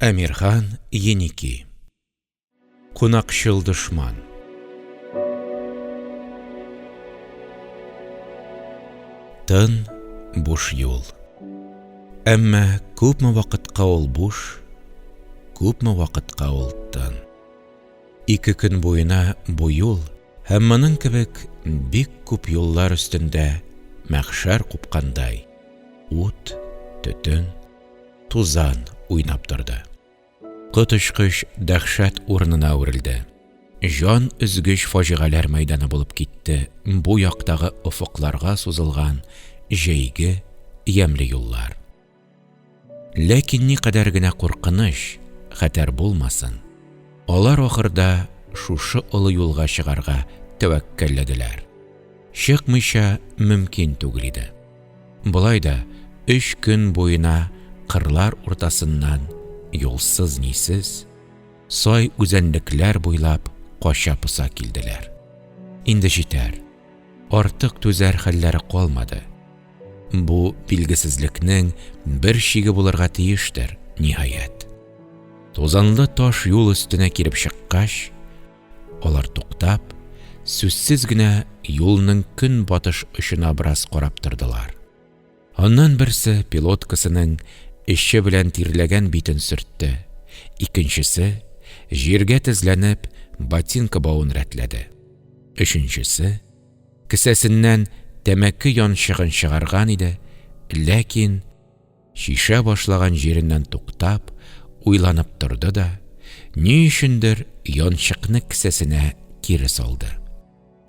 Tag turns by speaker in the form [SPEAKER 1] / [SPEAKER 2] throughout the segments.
[SPEAKER 1] Әмирхан Еники Кунакчыл дошман Тын, буш юл Әмма күпме вакытка ул буш, күпме вакытка ул тын. Ике көн буена бу юл һәм моның кебек бик күп юллар өстендә мәхшәр купкандай, ут, төтен, Тузан уйнап торды. Коточкыч дәһшәт урынына әверелде. Җан өзгеч фаҗигаләр мәйданы булып китте бу яктагы офыкларга сузылган җәйге ямьле юллар. Ләкин никадәр генә куркыныч, хәтәр булмасын, алар ахырда шушы олы юлга чыгарга тәвәккәлләделәр. Чыкмыйча мөмкин түгел иде. Болай да өч көн буена кырлар уртасыннан юлсыз-нисез, сай үзәнлекләр буйлап кача-поса килделәр. Инде җитәр, артык түзәр хәлләре калмады. Бу билгесезлекнең бер чиге булырга тиештер, ниһаять. Тузанлы таш юл өстенә килеп чыккач, Алар туктап, сүзсез генә юлның көнбатыш очына бераз карап тордылар. Аннан берсе пилоткасының эче белән тирләгән битен сөртте, икенчесе, җиргә тезләнеп, ботинка бавын рәтләде. Өченчесе, кесәсеннән тәмәке янчыгын чыгарган иде, ләкин, Чишә башлаган җиреннән туктап, уйланып торды да, ни өчендер янчыкны кесәсенә кире салды.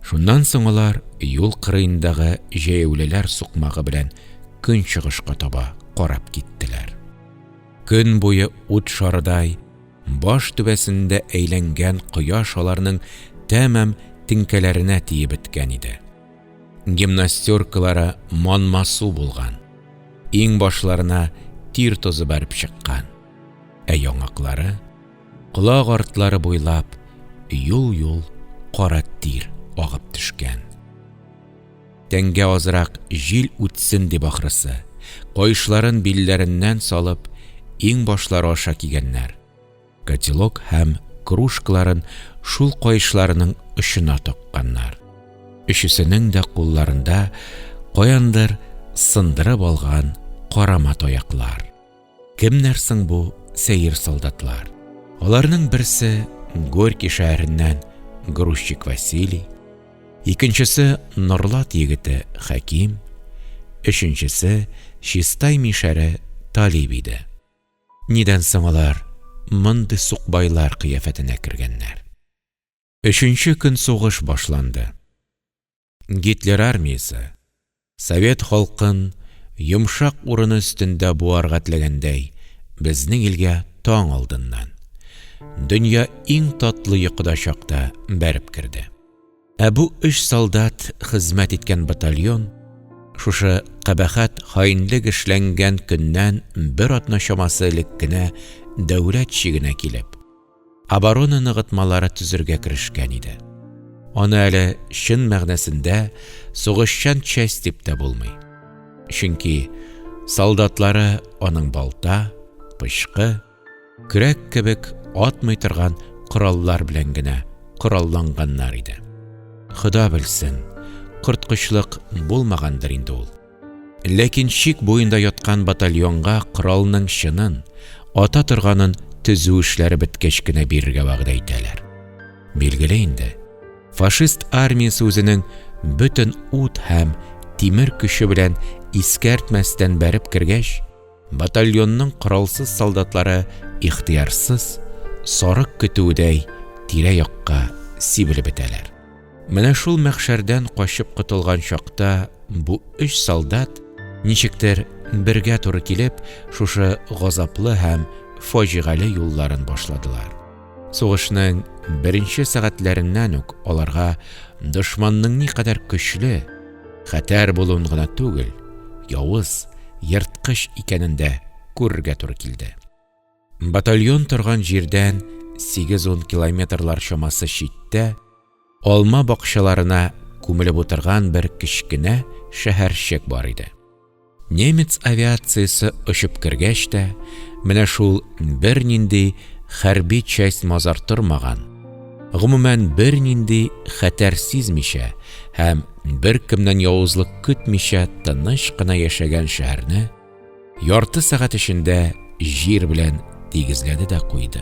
[SPEAKER 1] Шуннан соң алар юл кырыендагы җәяүлеләр сукмагы белән көнчыгышка таба карап киттеләр. Көн буе ут шарыдай баш түбәсендә әйләнгән кояш аларның тәмам теңкәләренә тиеп беткән иде. Гимнастеркалары манмасу булган, иң башларына тир тозы бәреп чыккан, ә яңаклары, колак артлары буйлап юл-юл кара тир агып төшкән. Тәнгә азрак җил үтсен дип ахрысы, каешларын билләреннән салып, иң башлары аша кигәннәр. котелок һәм кружкаларын шул каешларының очына токканнар. Өчесенең дә кулларында каяндыр сындырып алган карама таяклар. Кемнәр соң бу сәер солдатлар? Аларның берсе Горький шәһәреннән грузчик Василий, икенчесе Норлат егете Хәким, өченчесе Чистай мишәре Талиб иде. Нидән соң алар мондый сукбайлар кыяфәтенә кергәннәр? Өченче көн сугыш башланды. Гитлер армиясе, совет халкын йомшак урыны өстендә буарга теләгәндәй, безнең илгә таң алдыннан, дөнья иң татлы йокыда чакта бәреп керде. Ә бу өч солдат хезмәт иткән батальон шушы кабахәт хаинлек эшләнгән көннән бер атна чамасы элек кенә дәүләт чигенә килеп, оборона ныгытмалары төзергә керешкән иде. Аны әле чын мәгънәсендә сугышчан часть дип тә булмый. Чөнки солдатлары аның балта, пычкы, Көрәк кебек атмый торган кораллар белән генә коралланганнар иде. Хода белсен, корткычлык булмагандыр инде ул. Ләкин чик буенда яткан батальонга коралның чынын, ата торганын төзү эшләре беткәч кенә бирергә вәгъдә итәләр. Билгеле инде, фашист армиясе үзенең бөтен ут һәм тимер көче белән искәртмәстән бәреп кергәч, Батальонның коралсыз солдатлары ихтыярсыз, сарык көтүедәй, тирә-якка сибелеп бетәләр. Менә шул мәхшәрдән качып котылган чакта бу өч солдат, ничектер, бергә туры килеп, шушы газаплы һәм фаҗигале юлларын башладылар. Сугышның беренче сәгатьләреннән үк аларга дошманның никадәр көчле, Хәтәр булуын гына түгел, явыз, ерткыч икәнен дә күрергә туры килде. Батальон торган җирдән сигез-ун километрлар чамасы читтә, алма бакчаларына күмелеп утырган бер кечкенә шәһәрчек бар иде. Немец авиациясе очып кергәч тә, менә шул бернинди хәрби часть-мазар тормаган, гомумән, бернинди хәтәр сизмичә һәм беркемнән явызлык көтмичә тыныч кына яшәгән шәһәрне ярты сәгать эчендә җир белән тигезләде дә куйды.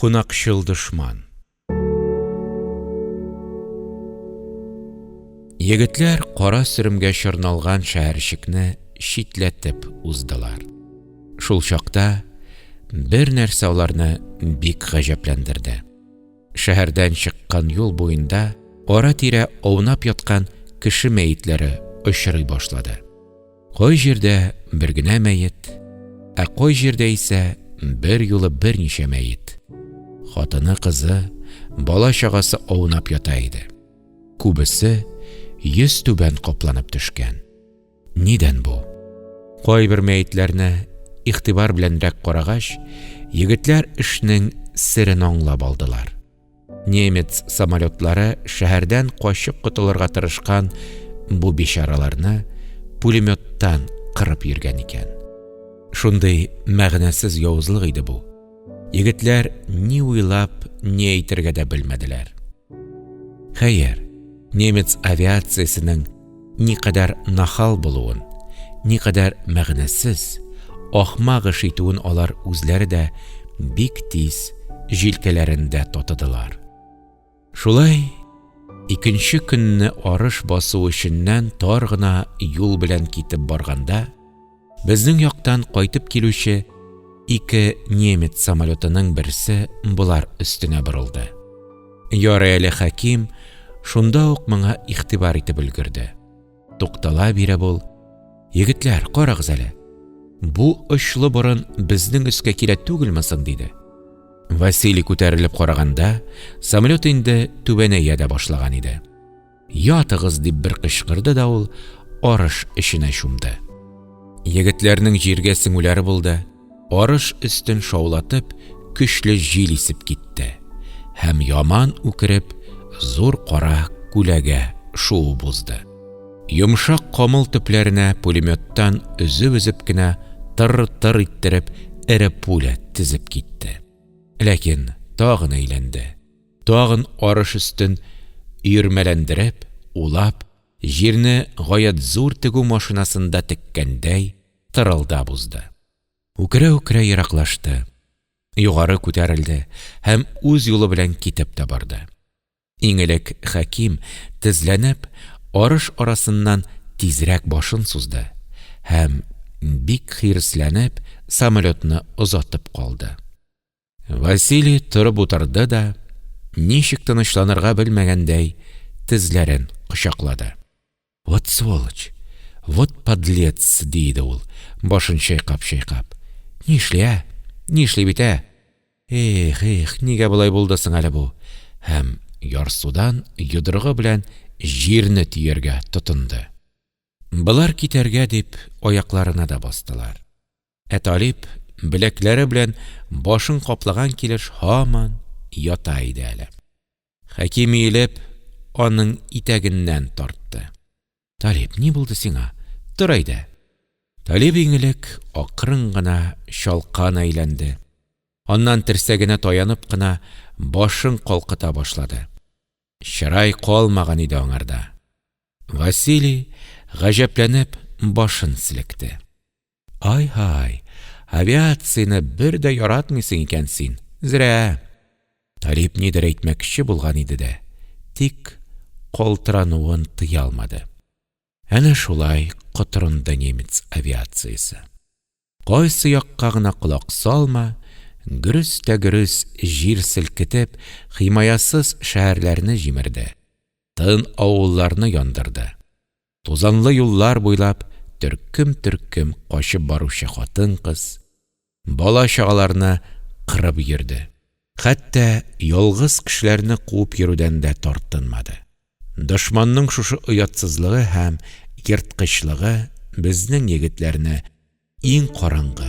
[SPEAKER 1] Кунакчыл дошман. Егетләр кара сөремгә чорналган шәһәрчекне читләтеп уздылар. Шул чакта бер нәрсә аларны бик гаҗәпләндерде. Шәһәрдән чыккан юл буенда ара-тирә аунап яткан кеше мәетләре очрый башлады. Кай җирдә бер генә мәет, ә кай җирдә исә берьюлы берничә мәет. Хатыны, кызы, бала-чагасы аунап ята иде. Күбесе йөзтүбән капланып төшкән. Нидән бу? Кайбер мәетләрне игътибар беләнрәк карагач, егетләр эшнең серен аңлап алдылар. Немец самолетлары шәһәрдән качып котылырга тырышкан бу бичараларны пулеметтан кырып йөргән икән. Шундый мәгънәсез явызлык иде бу. Егетләр ни уйлап, ни әйтергә дә белмәделәр. Хәер, немец авиациясенең никадәр нахал булуын, никадәр мәгънәсез, ахмак эш итүен алар үзләре дә бик тиз җилкәләрендә татыдылар. Шулай икенче көнне арыш басу эшеннән тар гына юл белән китеп барганда, Безнең яктан кайтып килүче ике немец самолетының берсе болар өстенә борылды. Ярый әле Хәким шунда ук моңа игътибар итеп өлгерде. Туктала биреп ул, Егетләр, карагыз әле, бу очлы борын безнең өскә килә түгелме соң? диде. Василий күтәрелеп караганда, самолет инде түбәнәя дә башлаган иде. Ятыгыз! дип бер кычкырды да ул арыш эченә чумды. Егетләрнең җиргә сеңүләре булды, арыш өстен шаулатып, көчле җил исеп китте һәм, яман үкереп, зур кара күләгә шуып узды. Йомшак камыл төпләренә пулеметтан өзеп-өзеп кенә тыр-тыр иттереп эре пуля тезеп китте. Ләкин тагын әйләнде. Тагын арыш өстен өермәләндереп, улап, җирне гаять зур тегү машинасында теккәндәй, тырылдап узды. Үкерә-үкерә ераклашты, югары күтәрелде һәм үз юлы белән китеп тә барды. Иң элек Хәким, тезләнеп, арыш арасыннан тизрәк башын сузды һәм, бик хиресләнеп, самолетны озатып калды. Василий торып утырды да, ничек тынычланырга белмәгәндәй, тезләрен кочаклады. Вот сволочь! Вот подлец! – ди иде ул, башын чайкап-чайкап. – Ни эшли, ә? Ни эшли бит, ә? Эх, эх, нигә болай булды соң әле бу? Һәм ярсудан йодрыгы белән җирне төяргә тотынды. Болар китәргә дип аякларына да бастылар. Ә Талип беләкләре белән башын каплаган килеш һаман ята иде әле. Хәким иелеп, аның итәгеннән тартты. Талип, ни булды сиңа? Тор әйдә! Талип иң элек акрын гына чалкан әйләнде, аннан терсәгенә таянып кына башын калкыта башлады. Чырай калмаган иде аңарда. Василий, гаҗәпләнеп, башын селекте. Ай-һай, авиацияне бер дә яратмыйсың икән син, зря! Талип нидер әйтмәкче булган иде дә, тик калтырануын тыя алмады. Әнә шулай котырынды немец авиациясе. Кайсы якка гына колак салма, гөрес тә гөрес җир селкетеп, химаясыз шәһәрләрне җимерде, тын авылларны яндырды. Тузанлы юллар буйлап төркем-төркем качып баручы хатын-кыз, бала-чагаларны кырып йөрде. Хәтта ялгыз кешеләрне куып йөрүдән дә тартынмады. Дошманның шушы оятсызлыгы һәм ерткычлыгы безнең егетләрне иң караңгы,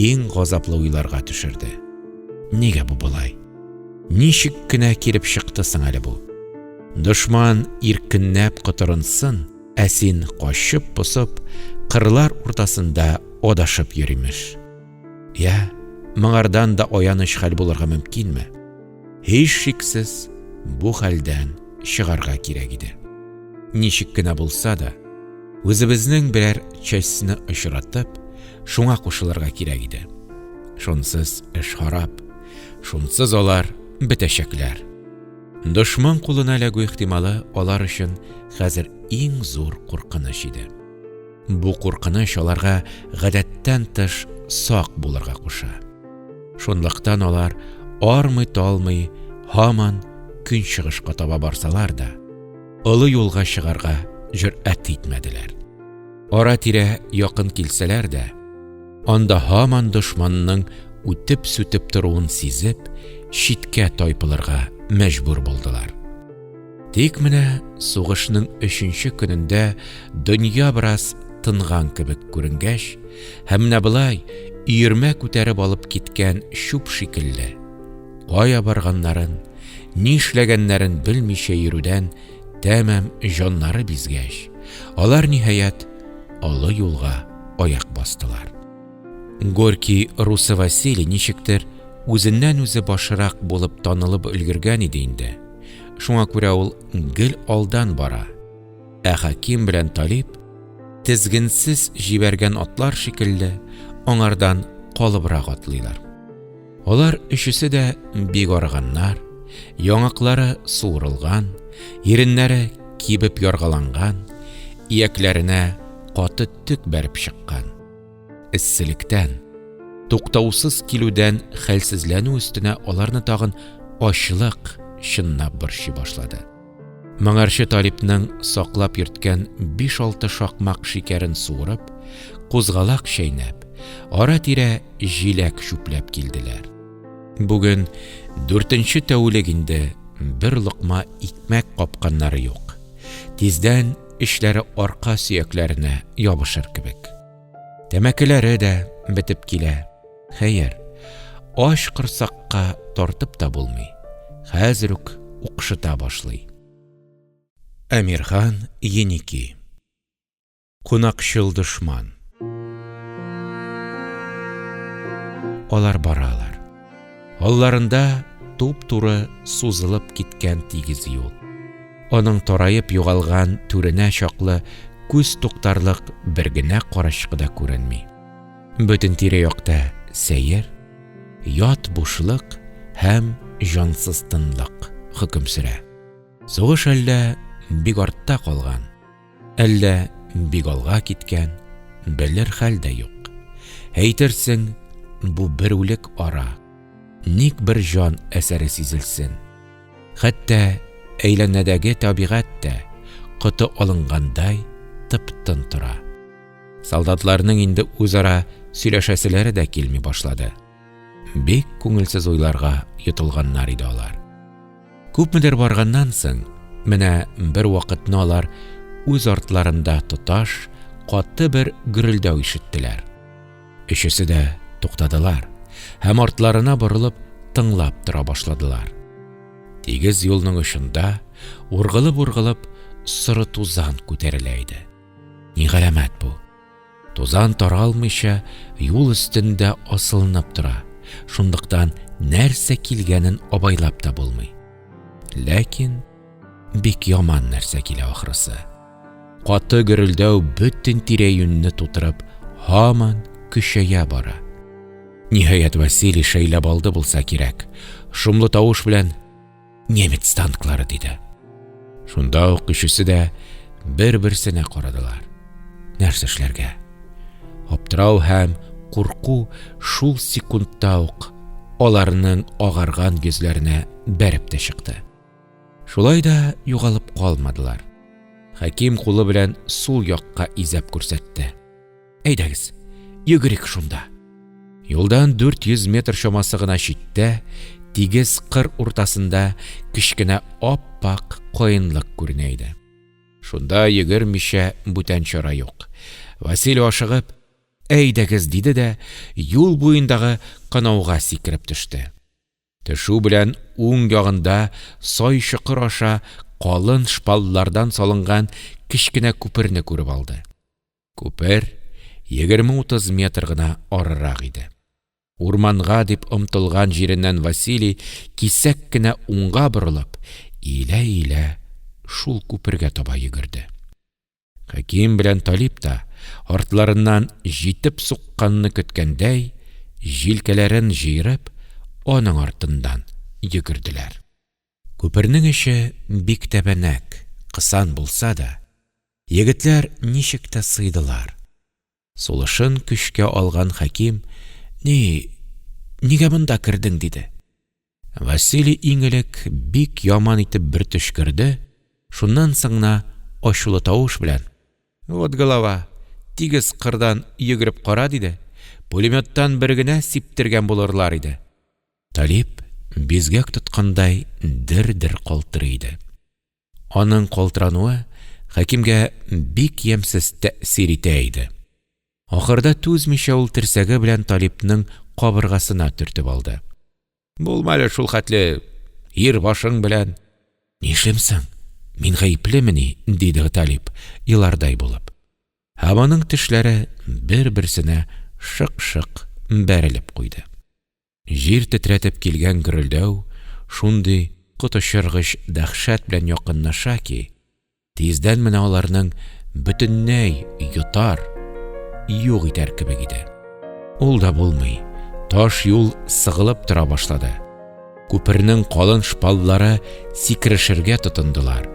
[SPEAKER 1] иң газаплы уйларга төшерде. Нигә бу болай? Ничек кенә килеп чыкты соң әле бу? Дошман иркенләп котырынсын, ә син качып посып, кырлар уртасында адашып йөримеш. Я, моңардан да аяныч хәл булырга мөмкинме? Һич шиксез, бу хәлдән чыгарга кирәк иде. Ничек кенә булса да, үзебезнең берәр частьны очратып, шуңа кушылырга кирәк иде. Шунсыз эш харап, шунсыз алар бетәчәкләр. Дошман кулына эләгү ихтималы алар өчен хәзер иң зур куркыныч иде. Бу куркыныч аларга гадәттән тыш сак булырга куша. Шунлыктан алар армый-талмый һаман көнчыгышка таба барсалар да, олы юлга чыгарга җөрьәт итмәделәр. Ара-тирә якын килсәләр дә, анда һаман дошманның үтеп-сүтеп торуын сизеп, читкә тайпылырга мәҗбүр булдылар. Тик менә сугышның өченче көнендә дөнья бераз тынган кебек күренгәч, һәм менә болай өермә күтәреп алып киткән чүп шикелле, кая барганнарын, ни эшләгәннәрен белмичә йөрүдән тәмам җаннары бизгәч, алар, ниһаять, олы юлга аяк бастылар. Горький Русы Василий ничектер үзеннән үзе башырак булып танылып өлгергән иде инде, шуңа күрә ул гел алдан бара, ә хаким белән талиб, тезгенсез җибәргән атлар шикелле, аңардан калыбрак атлыйлар. Алар өчесе дә бик арыганнар, яңаклары суырылган, иреннәре кибеп яргаланган, иякләренә каты төк бәреп чыккан. эсселектән туктаусыз килүдән хәлсезләнү өстенә аларны тагын ачлык чыннап борчый башлады моңарчы талипның саклап йөрткән биш алты шакмак шикәрен суырып кузгалак чәйнәп ара тирә җиләк чүпләп килделәр бүген дүртенче тәүлек инде бер локма икмәк капканнары юк тиздән Эчләре арка сөякләренә ябышыр кебек. Тәмәкеләре дә бетеп килә. Хәер, ач корсакка тартып та булмый. Хәзер үк укшыта башлый. Әмирхан Еники Кунакчыл дошман Алар баралар Алларында туп-туры сузылып киткән тигез юл. Аның тараеп югалган түренә чаклы күз туктарлык бер генә карачкы да күренми. Бөтен тирә-якта сәер, ят бушлык һәм җансыз тынлык хөкем сөрә. Сугыш әллә бик артта калган. Әллә бик алга киткән, белер хәл дә юк. Әйтерсең, бу бер үлек ара. Ник бер җан әсәре сизелсен? Хәтта әйләнәдәге табигать тә коты алынгандай тып-тын тора. Солдатларның инде үзара сөйләшәселәре дә килми башлады. Бик күңелсез уйларга йотылганнар иде алар Күпмедер барганнан соң, менә бервакытны алар үз артларында тоташ каты бер гөрелдәү ишеттеләр. Өчесе дә туктадылар һәм артларына борылып тыңлап тора башладылар. Тигез юлның очында ургылып-ургылып соры тузан күтәрелә иде. Ни галәмәт бу? Тузан таралмыйча юл өстендә асылынып тора, шунлыктан нәрсә килгәнен абайлап та булмый. Ләкин бик яман нәрсә килә ахрысы. Каты гөрелдәү бөтен тирә-юньне тутырып, һаман көчәя бара. Ниһаять, Василий шәйләп алды булса кирәк, шомлы тавыш белән немец танклары, диде. Шунда ук өчесе дә бер-берсенә карадылар. Нәрсә эшләргә? Аптырау һәм курку шул секундта ук аларның агарган йөзләренә бәреп тә чыкты. Шулай да югалып калмадылар. Хәким кулы белән сул якка изәп күрсәтте. Әйдәгез, йөгерик шунда. Юлдан 400 метр чамасы гына читтә, тигез кыр уртасында кечкенә ап-ак каенлык күренә иде. Шунда йөгермичә бүтән чара юк. Василий ашыгып, әйдәгез, диде дә, юл буендагы канауга сикереп төште. Төшү белән уң ягында сай чокыр аша калын шпаллардан салынган кечкенә күперне күреп алды. Күпер егерме-утыз метр гына арырак иде. Урманга дип омтылган җиреннән Василий, кисәк кенә уңга борылып, иелә-иелә шул күпергә таба йөгерде. Хәким белән Талип та, артларыннан җитеп сукканны көткәндәй, җилкәләрен җыерып, аның артыннан йөгерделәр. Күпернең эче бик тәбәнәк, кысан булса да, егетләр ничек тә сыйдылар. Сулышын көчкә алган Хәким, Ни, нигә монда кердең? диде. Василий иң элек бик яман итеп бер төчкерде, шуннан соң гына ачулы тавыш белән, Вот голова, тигез кырдан йөгереп кара! диде, Пулемёттан бер генә сиптергән булырлар иде. Талип бизгәк тоткандай дер-дер калтырый иде. Аның калтырануы Хәкимгә бик ямьсез тәэсир итә иде. Ахырда түзмичә ул терсәге белән Талипның кабыргасына төртеп алды. Булма әле шул хәтле ир башың белән! Нишлим соң, мин гаеплемени? – диде Талип, елардай булып. Һәм аның тешләре бер-берсенә шык-шык бәрелеп куйды. Җир тетрәтеп килгән гөрелдәү шундый коточыргыч дәһшәт белән якынлаша ки, тиздән менә аларның бөтенләй йотар, юк итәр кебек иде. Ул да булмый, таш юл сыгылып тора башлады. Күпернең калын шпаллары сикерешергә тотындылар,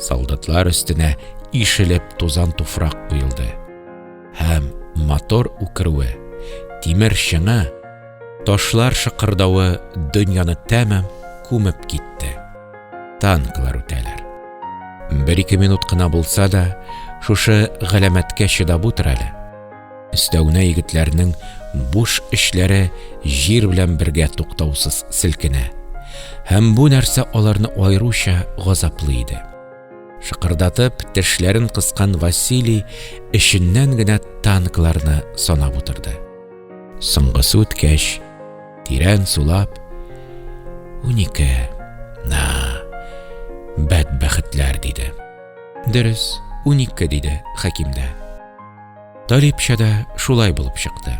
[SPEAKER 1] солдатлар өстенә ишелеп тузан-туфрак коелды. һәм мотор үкерүе, тимер чыңы, ташлар шыкырдавы дөньяны тәмам күмеп китте. Танклар үтәләр. Бер-ике минут кына булса да, шушы галәмәткә чыдап утыр әле. Өстәвенә егетләрнең буш эшләре җир белән бергә туктаусыз селкенә. Һәм бу нәрсә аларны аеруча газаплый иде. Шыкырдатып, тешләрен кыскан Василий эченнән генә танкларны санап утырды. Соңгысы үткәч, тирән сулап, унике, на, бәдбәхетләр, диде. Дөрес, унике, диде Хәким дә. Талипча да шулай булып чыкты.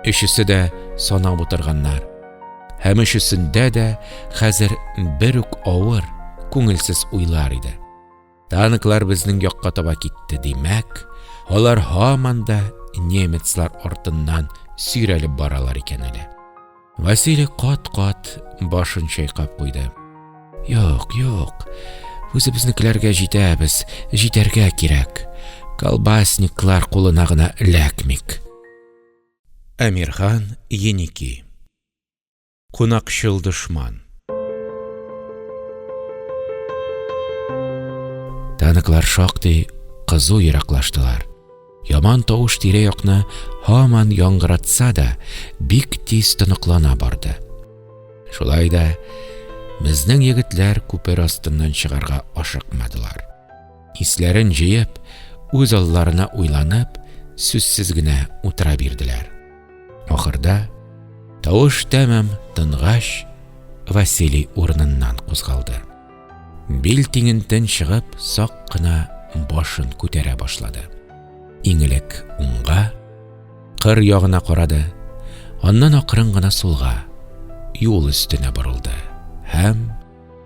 [SPEAKER 1] Өчесе дә санап утырганнар. Һәм өчесендә дә хәзер бер үк авыр, күңелсез уйлар иде. Танклар безнең якка таба китте, димәк, алар һаман да немецлар артыннан сөйрәлеп баралар икән әле. Василий кат-кат башын чайкап куйды. Юк, юк, үзебезнекеләргә җитәбез, җитәргә кирәк. Колбасниклар кулына гына эләкмик. Әмирхан Еники Кунакчыл дошман Танклар шактый кызу ераклаштылар. Яман тавыш тирә-якны һаман яңгыратса да, бик тиз тоныклана барды. Шулай да безнең егетләр күпер астыннан чыгарга ашыкмадылар. Исләрен җыеп, үз алларына уйланып, сүзсез генә утыра бирделәр. Ахырда, тавыш тәмам тынгач, Василий урыныннан кузгалды. Бил тиңентен чыгып, сак кына башын күтәрә башлады. Иң элек уңга, кыр ягына карады, аннан акрын гына сулга, юл өстенә борылды һәм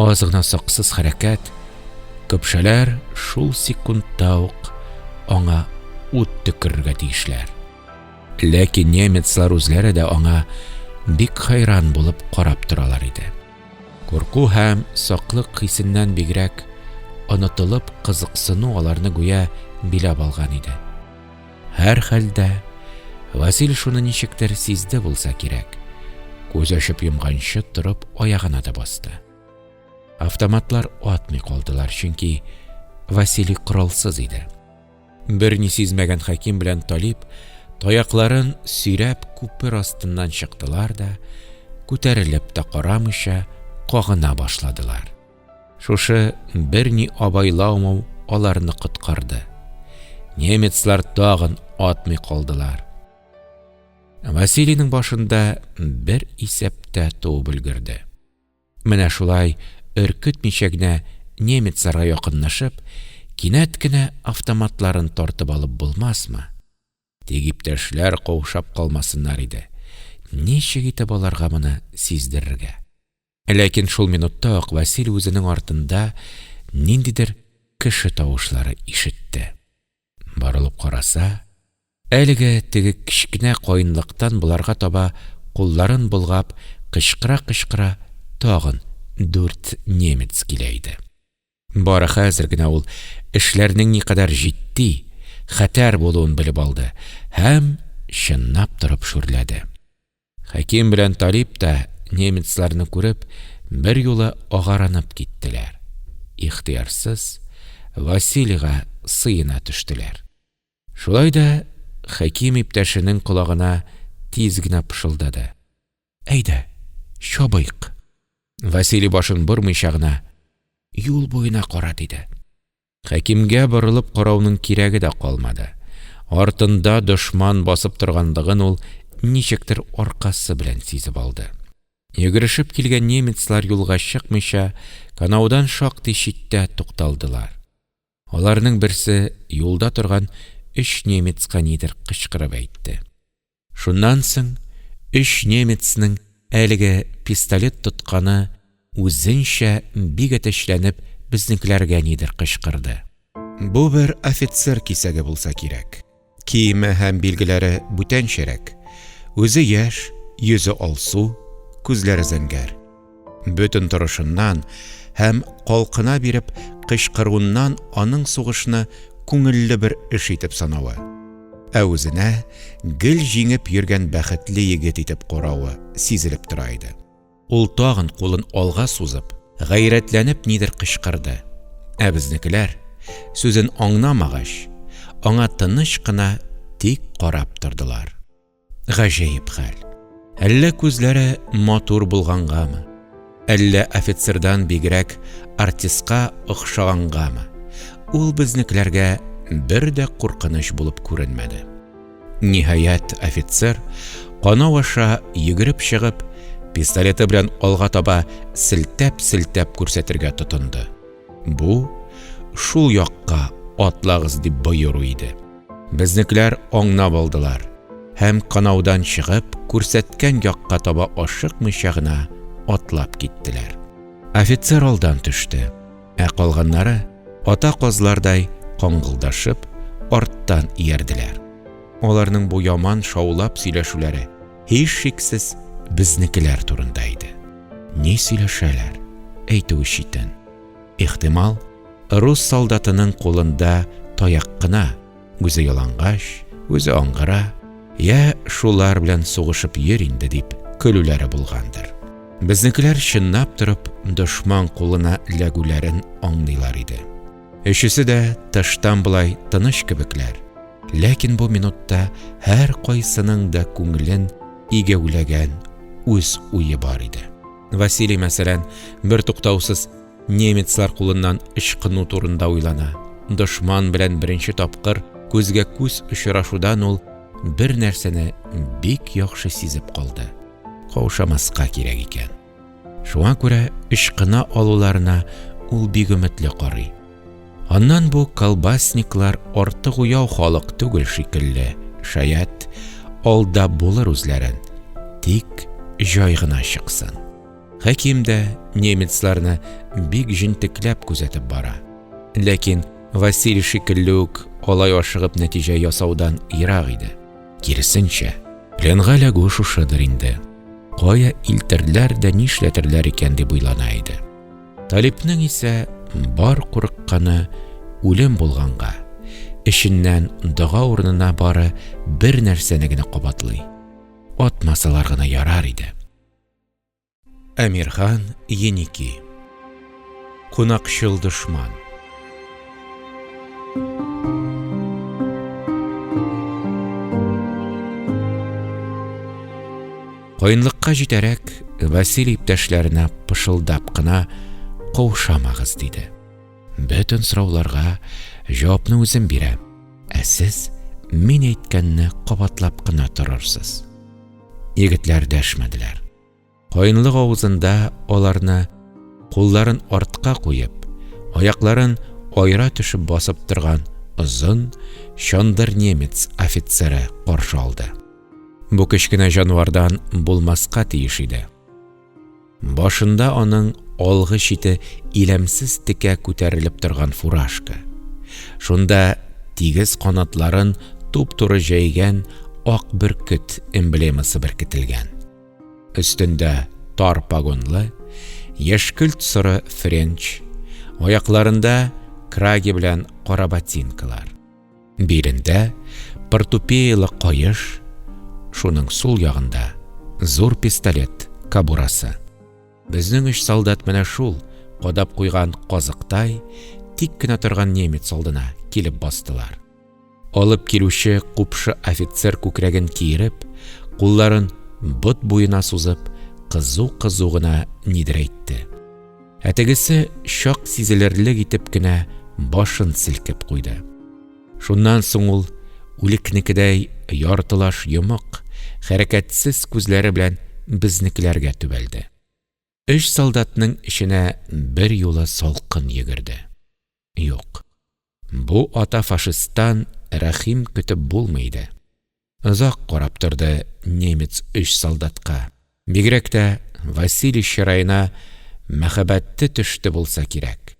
[SPEAKER 1] Аз гына саксыз хәрәкәт, көпшәләр шул секундта ук аңа ут төкерергә тиешләр. Ләкин немецлар үзләре дә аңа бик хайран булып карап торалар иде. Курку һәм саклык хисеннән бигрәк, онытылып кызыксыну аларны гүя биләп алган иде. Һәрхәлдә, Васил шуны ничектер сизде булса кирәк, күз ачып йомганчы торып аягына да басты. Автоматлар атмый калдылар, чөнки Василий коралсыз иде. Берни сизмәгән Хәким белән Талип, таякларын сөйрәп, күпер астыннан чыктылар да, күтәрелеп тә карамыйча, кагына башладылар. Шушы берни абайлаумау аларны коткарды. Немецлар тагын атмый калдылар. Василийның башында бер исәп тә туып өлгерде. Менә шулай өркетмичә генә немецларга якынлашып, кинәт кенә автоматларын тартып алып булмасмы? Тик иптәшләр каушап калмасыннар иде, ничек итеп аларга моны сиздерергә? Ләкин шул минутта ук Василий үзенең артында ниндидер кеше тавышлары ишетте. Борылып караса, әлеге теге кечкенә каенлыктан боларга таба кулларын болгап, кычкыра-кычкыра тагын дүрт немец килә иде. Бары хәзер генә ул эшләрнең никадәр җитди, хәтәр булуын белеп алды һәм чынлап торып шүрләде. Хәким белән Талип та, немецларны күреп, берьюлы агарынып киттеләр. Ихтыярсыз, Василийга сыена төштеләр. Шулай да Хәким иптәшенең колагына тиз генә пышылдады. Әйдә, чабыйк! Василий башын бормыйча гына, Юл буена кара! диде. Хәкимгә борылып карауның кирәге дә калмады. Артында дошман басып торганлыгын ул ничектер аркасы белән сизеп алды. Йөгерешеп килгән немецлар юлга чыкмыйча, канаудан шактый читтә тукталдылар. Аларның берсе юлда торган өч немецка нидер кычкырып әйтте. Шуннан соң өч немецның әлеге пистолет тотканы үзенчә бик әтәчләнеп безнекеләргә нидер кычкырды. Бу бер офицер кисәге булса кирәк. Киеме һәм билгеләре бүтәнчәрәк. Үзе яшь, йөзе алсу, күзләре зәңгәр. Бөтен торышыннан һәм калкына биреп кычкыруыннан аның сугышны күңелле бер эш итеп санавы, ә үзенә гел җиңеп йөргән бәхетле егет итеп каравы сизелеп тора иде. Ул тагын кулын алга сузып, гайрәтләнеп нидер кычкырды, ә безнекеләр, сүзен аңнамагач, аңа тыныч кына тик карап тордылар. Гаҗәеп хәл. Әллә күзләре матур булгангамы, әллә офицердан бигрәк артистка охшагангамы, ул безнекеләргә бер дә куркыныч булып күренмәде. Ниһаять, офицер, канау аша йөгереп чыгып, пистолеты белән алга таба селтәп-селтәп күрсәтергә тотынды Бу, Шул якка атлагыз! дип боеру иде. Безнекеләр аңнап алдылар һәм, канаудан чыгып, күрсәткән якка таба ашыкмыйча гына атлап киттеләр. Офицер алдан төште, ә калганнары, ата казлардай каңгылдашып, арттан иярделәр. Аларның бу яман шаулап сөйләшүләре, һичшиксез, безнекеләр турында иде. Ни сөйләшәләр, әйтүе читен. Ихтимал, рус солдатының кулында таяк кына, үзе ялангач, үзе аңгыра, йә шулар белән сугышып йөр инде, дип көлүләре булгандыр. Безнекеләр чынлап торып дошман кулына эләгүләрен аңлыйлар иде. Өчесе дә тыштан болай тыныч кебекләр, ләкин бу минутта һәркайсының да күңелен игәүләгән үз уе бар иде. Василий, мәсәлән, бертуктаусыз немецлар кулыннан ычкыну турында уйлана. Дошман белән беренче тапкыр күзгә күз очрашудан ул бер нәрсәне бик яхшы сизеп калды: каушамаска кирәк икән. Шуңа күрә ычкына алуларына ул бик өметле карый. Аннан бу колбасниклар артык уяу халык түгел шикелле, шаят, алда булыр үзләрен, тик җай гына чыксын. Хәким дә немецларны бик җентекләп күзәтеп бара. Ләкин Василий шикелле үк алай ашыгып нәтиҗә ясаудан ерак иде. Киресенчә, пленга эләгү шушыдыр инде. Кая илтерләр дә нишләтерләр икән дип уйлана иде. Талипнең исә бар курыкканы үлем булганга, эченнән дога урынына бары бер нәрсәне генә кабатлый. Атмасалар гына ярар иде. Әмирхан Еники Кунакчыл дошман Каенлыкка җитәрәк, Василий иптәшләренә пышылдап кына каушамагыз диде. Бөтен сорауларга җавапны үзем бирәм. Ә сез мин әйткәнне кабатлап кына торырсыз. Егетләр дәшмәделәр. Каенлык авызында аларны кулларын артка куеп, аякларын айра төшеп басып торган озын, чандыр немец офицеры каршы алды. Бу кечкенә җанвардан булмаска тиеш иде. Башында аның алгы чите иләмсез текә күтәрелеп торган фуражка. Шунда тигез канатларын туп-туры җәйгән ак бөркет эмблемасы беркетелгән. Өстендә тар погонлы, яшькелт-соры френч, аякларында краги белән кара ботинкалар. Билендә портупеялы каеш, шуның сул ягында зур пистолет кобурасы. Безнең өч солдат менә шул, кадап куйган казыктай, тик кенә торган немец алдына килеп бастылар. Алып килүче купшы офицер күкрәген киереп, кулларын бот буена сузып, кызу-кызу гына нидер әйтте. Ә тегесе чак сизелерлек итеп кенә башын селкеп куйды. Шуннан соң ул, үлекнекедәй яртылаш йомык, хәрәкәтсез күзләре белән безнекеләргә төбәлде Өч солдатның эченә берьюлы салкын йөгерде Юк, бу ата фашисттан рәхим көтеп булмый иде Озак карап торды немец өч солдатка, бигрәк тә Василий чыраена мәһабәте төште булса кирәк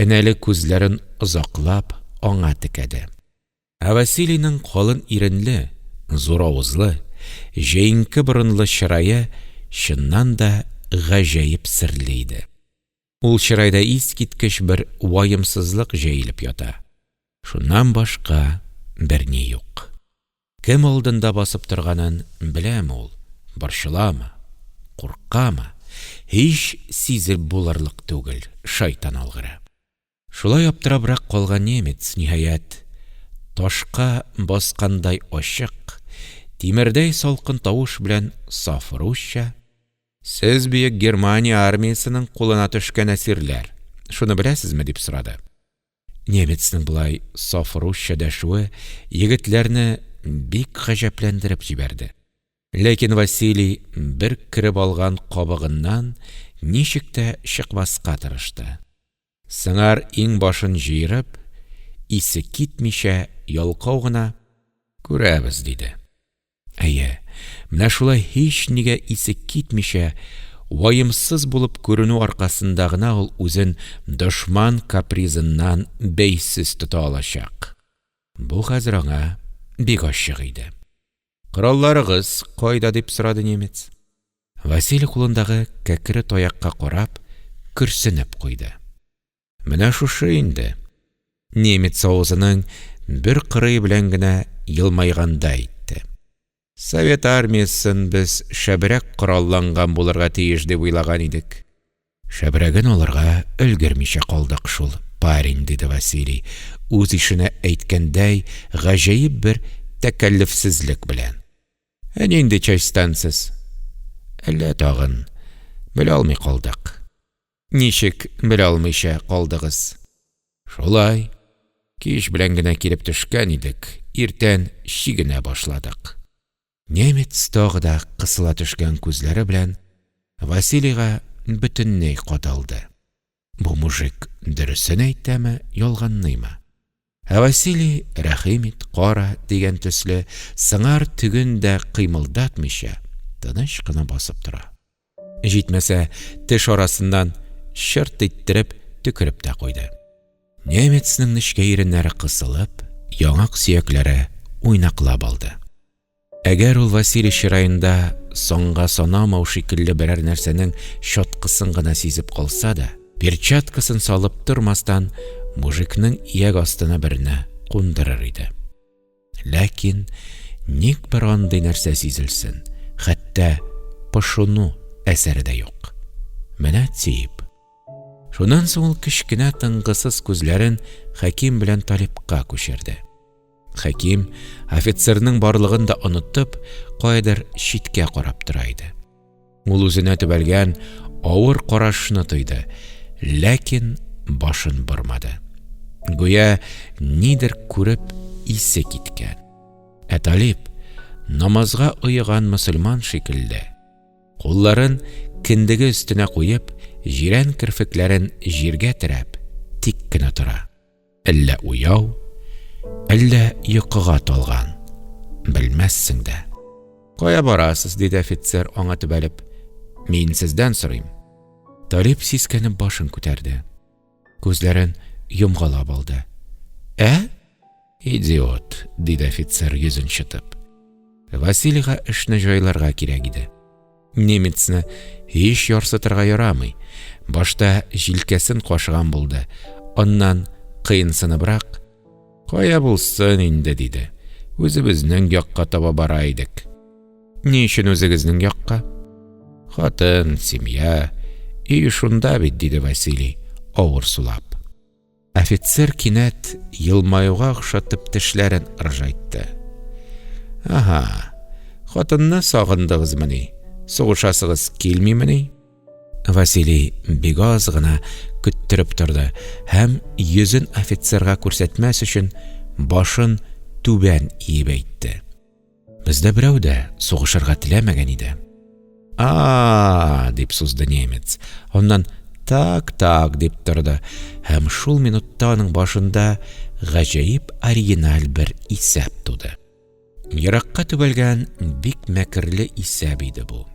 [SPEAKER 1] Энәле күзләрен озаклап аңа текәде. Ә Василийның калын иренле, зур авызлы, җәенке борынлы чырае чыннан да гаҗәеп серле иде. Ул чырайда искиткеч бер ваемсызлык җәелеп ята. Шуннан башка берни юк. Кем алдында басып торганын беләме ул, борчыламы, куркамы, һич сизеп булырлык түгел, шайтан алгыры. Шулай аптырабрак калган немец, ниһаять, ташка баскандай ачык, тимердәй салкын тавыш белән саф русча, Сез Бөек Германия армиясенең кулына төшкән әсирләр, шуны беләсезме? дип сорады. Немецның болай саф русча дәшүе егетләрне бик гаҗәпләндереп җибәрде. Ләкин Василий бер кереп алган кабыгыннан ничек тә чыкмаска тырышты. Сыңар иңбашын җыерып, исе китмичә ялкау гына, Күрәбез, диде. Әйе, менә шулай һичнигә исе китмичә, ваемсыз булып күренү аркасында гына ул үзен дошман капризыннан бәйсез тота алачак. Бу хәзер аңа бик ачык иде. Коралларыгыз кайда? – дип сорады немец. Василий кулындагы кәкре таякка карап, көрсенеп куйды. Менә шушы инде, немец авызының бер кырые белән генә елмайганда әйтте. Совет армиясен без шәбрәк коралланган булырга тиеш дип уйлаган идек. Шәбрәген алырга өлгермичә калдык шул, парень, диде Василий, үз ишенә әйткәндәй, гаҗәеп бер тәкәллефсезлек белән. Ә нинди частьтан сез? Әллә тагын, белә алмый калдык. Ничек белә алмыйча калдыгыз? Шулай, кич белән генә килеп төшкән идек, иртән чигенә башладык. Немец тагы да кысыла төшкән күзләре белән Василийга бөтенләй кадалды. Бу мужик дөресен әйтәме, ялганлыймы? Ә Василий, рәхим ит, кара, дигән төсле, сыңар теген дә кыймылдатмыйча, тыныч кына басып тора. Җитмәсә, теш арасыннан чырт иттереп төкереп тә куйды. Немецның нечкә иреннәре кысылып, яңак сөякләре уйнаклап алды. Әгәр ул Василий чыраенда санга санамау шикелле берәр нәрсәнең чаткысын гына сизеп калса да, перчаткасын салып тормастан, мужикның ияк астына берне кундырыр иде. Ләкин ник бер андый нәрсә сизелсен, хәтта пошыну әсәре дә юк. Менә тиеп. Шуннан соң ул кечкенә тынгысыз күзләрен Хәким белән Талипка күчерде. Хәким, офицерның барлыгын да оныттып, каядыр читкә карап тора иде. Ул үзенә төбәлгән авыр карашны тойды, ләкин башын бормады. Гүя нидер күреп исе киткән. Ә Талиб, намазга оеган мөселман шикелле, кулларын кендеге өстенә куеп, җирән керфекләрен җиргә терәп, тик кенә тора. Әллә уяу, әллә йокыга талган, белмәссең дә. Кая барасыз? диде офицер, аңа төбәлеп. Мин сездән сорыйм. Талип сискәнеп башын күтәрде. Күзләрен йомгалап алды. Ә? Идиот, диде офицер йөзен чытып. Василийга эшне җайларга кирәк иде. Немецны һич ярсытырга ярамый. Башта җилкәсен кашыган булды, аннан кыенсыныбрак: – Кая булсын инде, – диде. – Үзебезнең якка таба бара идек. – Ни өчен үзегезнең якка? – Хатын, семья, өй шунда бит, – диде Василий, авыр сулап. Офицер кинәт елмаюга охшатып тешләрен ыржайтты. Ага, хатынны сагындыгызмыни? Сугышасыгыз килмимени? Василий бик аз гына көттереп торды һәм йөзен офицерга күрсәтмәс өчен башын түбән иеп әйтте. Бездә берәү дә сугышырга теләмәгән иде. А, дип сузды немец. Аннан так, так дип торды. Һәм шул минутта аның башында гаҗәеп оригиналь бер исәп туды. Еракка төбәлгән бик мәкерле исәп иде бу.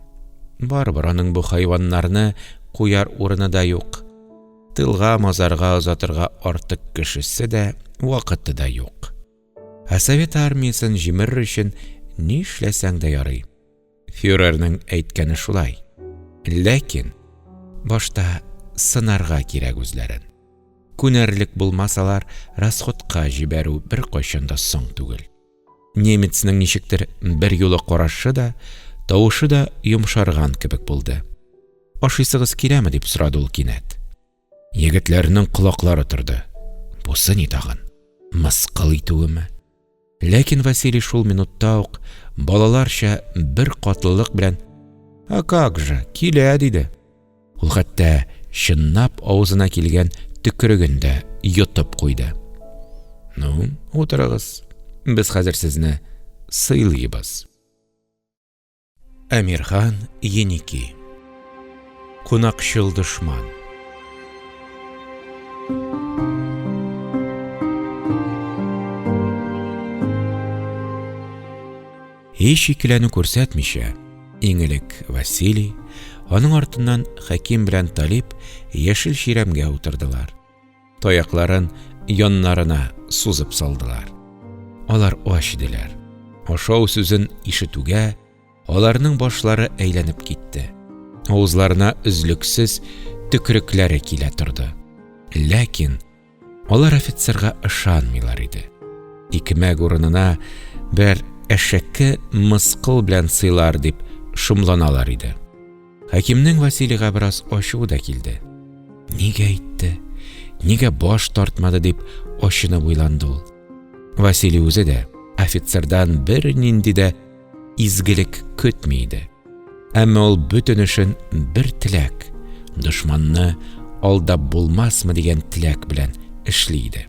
[SPEAKER 1] Барыбер аның бу хайваннарны куяр урыны да юк. Тылга-мазарга озатырга артык кешесе дә, вакыты да юк. Ә совет армиясен җимерер өчен ни эшләсәң дә ярый. Фюрерның әйткәне шулай. Ләкин башта сынарга кирәк үзләрен. Күнәрлек булмасалар, расходка җибәрү беркайчан да соң түгел. Немецның ничектер берьюлы карашы да, тавышы да йомшарган кебек булды. Ашыйсыгыз киләме? дип сорады ул кинәт. Егетләрнең колаклары торды. Бусы ни тагын? Мыскыл итүеме? Ләкин Василий шул минутта ук балаларча бер катлылык белән «А как же, килә!» диде. Ул хәтта чыннап авызына килгән төкереген дә йотып куйды. «Ну, утырыгыз, без хәзер сезне сыйлыйбыз». Әмирхан Еники Кунакчыл дошман Һич икеләнү күрсәтмичә, иң элек Василий, аның артыннан Хәким белән Талип яшел чирәмгә утырдылар. Таякларын яннарына сузып салдылар. Алар ач иделәр. Ашау сүзен ишетүгә, аларның башлары әйләнеп китте. Авызларына өзлексез төкерекләре килә торды. Ләкин алар офицерга ышанмыйлар иде. Икмәк урынына бер әшәке мыскыл белән сыйлар дип шомланалар иде. Хәкимнең Василийга бераз ачуы да килде. Нигә әйтте? Нигә баш тартмады? дип ачынып уйланды ул. Василий үзе дә офицердан бернинди дә изгелек көтми иде. Әмма ул бөтен эшен бер теләк, дошманны алдап булмасмы дигән теләк белән эшли иде.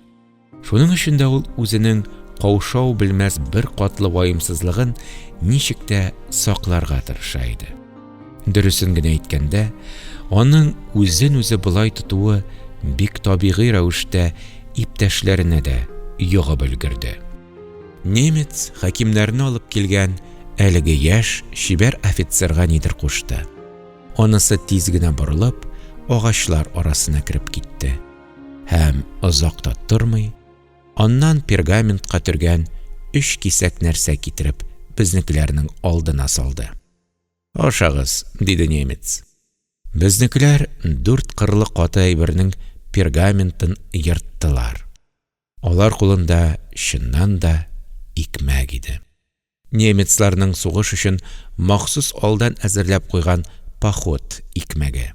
[SPEAKER 1] Шуның өчен дә ул үзенең каушау белмәс бер катлы ваемсызлыгын ничек тә сакларга тырыша иде. Дөресен генә әйткәндә, аның үзен үзе болай тотуы бик табигый рәвештә иптәшләренә дә йогып өлгерде. Немец хәкимнәрне алып килгән әлеге яшь чибәр офицерга нидер кушты. Анысы тиз генә борылып, агачлар арасына кереп китте. Һәм озак та тормый, аннан пергаментка төргән өч кисәк нәрсә китереп, безнекеләрнең алдына салды. Ашагыз, диде немец. Безнекеләр дүрт кырлы каты әйбернең пергаментын ерттылар. Алар кулында, чыннан да, икмәк иде. Немецларның сугыш өчен махсус алдан әзерләп куйган поход икмәге.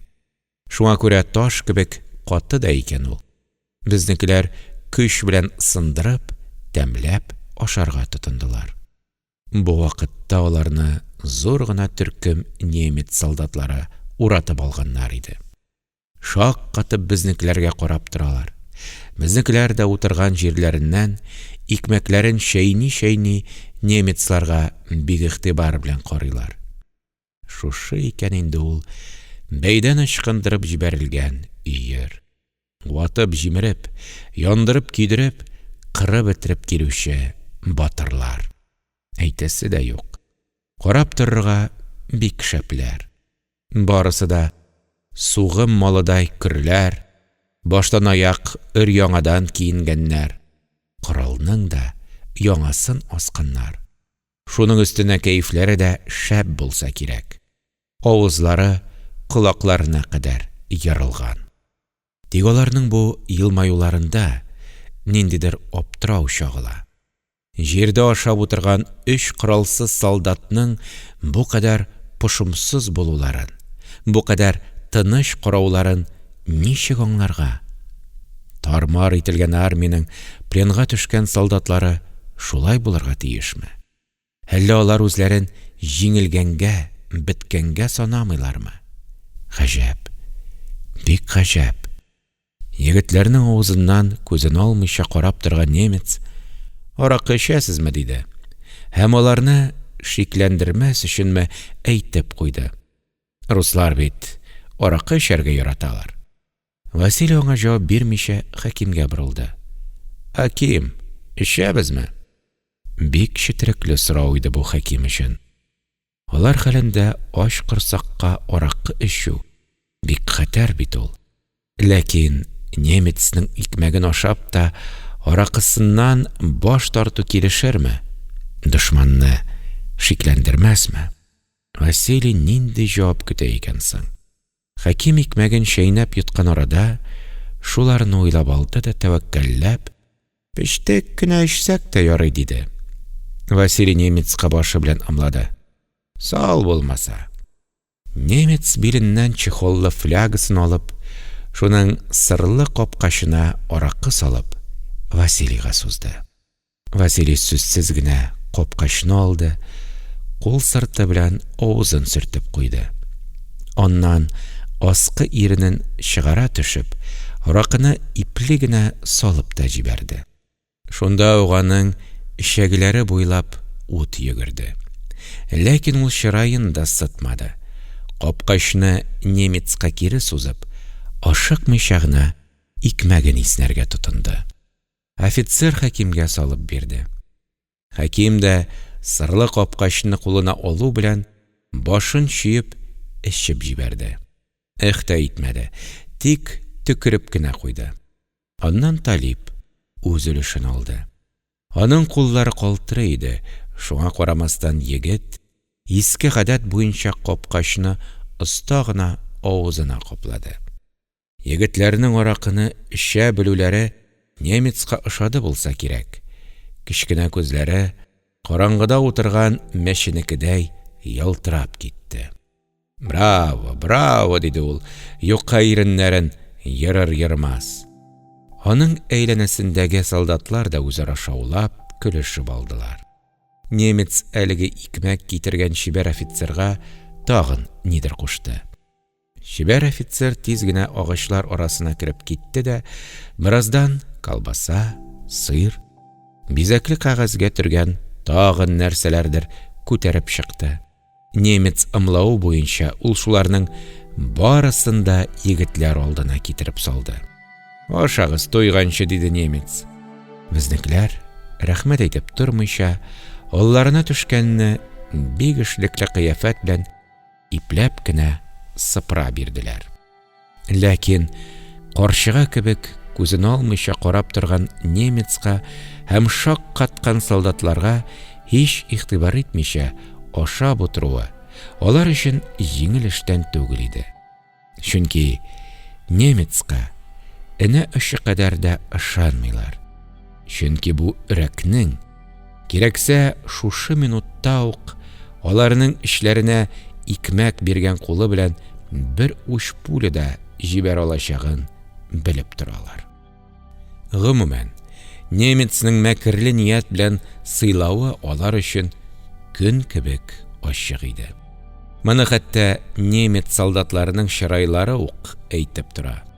[SPEAKER 1] Шуңа күрә таш кебек каты да икән ул. Безнекеләр көч белән сындырып, тәмләп ашарга тотындылар. Бу вакытта аларны зур гына төркем немец солдатлары уратып алганнар иде. Шаккатып безнекеләргә карап торалар. Безнекеләр дә утырган җирләреннән, икмәкләрен чәйни-чәйни, немецларга бик игътибар белән карыйлар. Шушы икән инде ул бәйдән ычкындырып җибәрелгән өер! Ватып-җимереп, яндырып-көйдереп, кырып-бетереп килүче батырлар! Әйтәсе дә юк, карап торырга бик шәпләр! Барысы да сугым малыдай көрләр, баштанаяк өр-яңадан киенгәннәр, коралның да яңасын асканнар. Шуның өстенә кәефләре дә шәп булса кирәк, авызлары колакларына кадәр ерылган. Тик аларның бу елмаюларында ниндидер аптырау чагыла. Җирдә ашап утырган өч коралсыз солдатның бу кадәр пошымсыз булуларын, бу кадәр тыныч карауларын Ничек аңларга? Тар-мар ителгән армиянең пленга төшкән солдатлары шулай булырга тиешме? Әллә алар үзләрен җиңелгәнгә, беткәнгә санамыйлармы? Гаҗәп! Бик гаҗәп! Егетләрнең авызыннан күзен алмыйча карап торган немец, Аракы эчәсезме? диде һәм аларны шикләндермәс өченме әйтеп куйды. Руслар бит аракы эчәргә яраталар. Василий аңа җавап бирмичә Хәкимгә борылды. Хәким, эчәбезме? Бик четерекле сорау иде бу Хәким өчен. Алар хәлендә ач корсакка аракы эчү бик хәтәр бит ул. Ләкин немецның икмәген ашап та, аракысыннан баш тарту килешерме? Дошманны шикләндермәсме? Василий нинди җавап көтә икән соң? Хәким икмәген чәйнәп йоткан арада, шуларны уйлап алды да тәвәккәлләп, Пештек кенә эчсәк тә ярый, диде. Василий немецка башы белән ымлады. Сал булмаса! Немец биленнән чехоллы флягасын алып, шуның сырлы капкачына аракы салып, Василийга сузды. Василий сүзсез генә капкачны алды, кул сырты белән авызын сөртеп куйды. Аннан, аскы иренен чыгара төшеп, аракыны ипле генә салып та җибәрде. Шунда ук аның эчәгеләре буйлап ут йөгерде. Ләкин ул чыраен да сытмады, капкачны немецка кире сузып, ашыкмыйча гына икмәген иснәргә тотынды. Офицер Хәкимгә салып бирде. Хәким дә, сырлы капкачны кулына алу белән, башын чөеп эчеп җибәрде. Эх тә итмәде, тик төкереп кенә куйды. Аннан Талип үз өлешен алды. Аның куллары калтырый иде, шуңа карамастан егет, иске гадәт буенча капкачны оста гына авызына каплады. Егетләрнең аракыны эчә белүләре немецка ошады булса кирәк, кечкенә күзләре караңгыда утырган мәченекедәй ялтырап китте. Браво, браво! – диде ул, юка иреннәрен ерыр-ермас. Аның әйләнәсендәге солдатлар да үзара шаулап, көлешеп алдылар. Немец әлеге икмәк китергән чибәр офицерга тагын нидер кушты. Чибәр офицер тиз генә агачлар арасына кереп китте дә бераздан колбаса, сыр, бизәкле кәгазьгә төргән тагын нәрсәләрдер күтәреп чыкты. Немец ымлавы буенча, ул шуларның барысын да егетләр алдына китереп салды. – Ашагыз, туйганчы! – диде немец. Безнекеләр, рәхмәт әйтеп тормыйча, алларына төшкәнне бик эшлекле кыяфәт белән ипләп кенә сыпыра бирделәр. Ләкин карчыга кебек күзен алмыйча карап торган немецка һәм шак каткан солдатларга һич игътибар итмичә ашап утыруы алар өчен җиңел эштән түгел иде. Чөнки немецка энә очы кадәр дә ышанмыйлар. Чөнки бу өрәкнең Кирәксә, шушы минутта ук аларның эчләренә икмәк биргән кулы белән бер уч пуля да җибәрә алачагын белеп торалар. Гомумән, немецның мәкерле ният белән сыйлавы алар өчен көн кебек ачык иде. Моны хәтта немец солдатларының чырайлары ук әйтеп тора.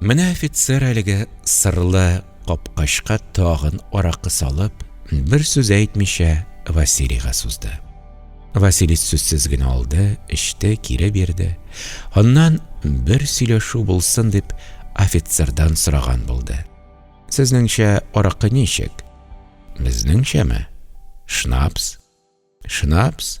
[SPEAKER 1] Менә офицер әлеге сырлы капкачка тагын аракы салып, бер сүз әйтмичә, Василийга сузды. Василий сүзсез генә алды, эчте, кире бирде. Аннан бер сөйләшү булсын дип, офицердан сораган булды. Сезнеңчә, аракы ничек? Безнеңчәме? Шнапс. Шнапс?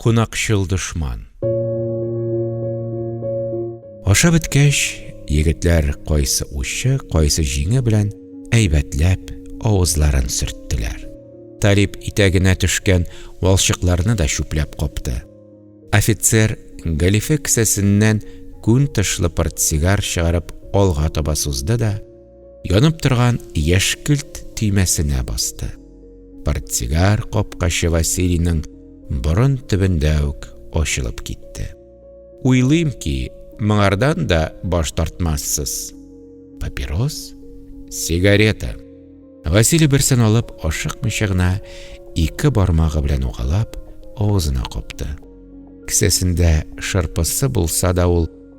[SPEAKER 1] Кунакчыл дошман. Ашап беткәч, егетләр кайсы учы, кайсы җиңе белән әйбәтләп авызларын сөрттеләр. Талип итәгенә төшкән валчыкларны да чүпләп капты. Офицер галифе кесәсеннән күн тышлы портсигар чыгарып алга таба сузды да, Янып торган яшькелт төймәсенә басты. Портсигар капкачы Василийның борын төбендә үк ачылып китте. Уйлыйм ки, моңардан да баш тартмассыз. Папирос, сигарета. Василий берсен алып, ашыкмыйча гына ике бармагы белән угалап, авызына капты. Кесәсендә шырпысы булса да ул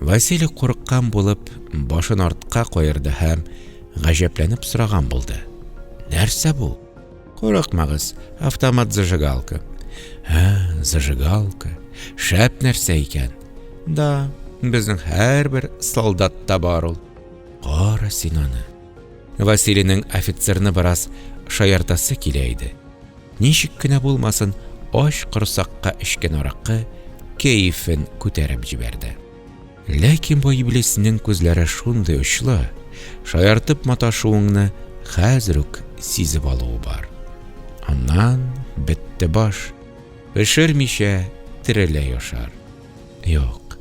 [SPEAKER 1] Василий курыккан булып башын артка каерды һәм гаҗәпләнеп сораган булды: – Нәрсә бу? Курыкмагыз, автомат-зажигалка. – Һә, зажигалка. Шәп нәрсә икән. – Да, безнең һәрбер солдатта бар ул. Кара син аны. Вәсилинең офицерны бераз шаяртасы килә иде, ничек кенә булмасын, ач корсакка эчкән аракы кәефен күтәреп җибәрде. Ләкин бу иблиснең күзләре шундый очлы, шаяртып маташуыңны хәзер үк сизеп алуы бар. Аннан, бетте баш, пешермичә тереләй ашар. Юк,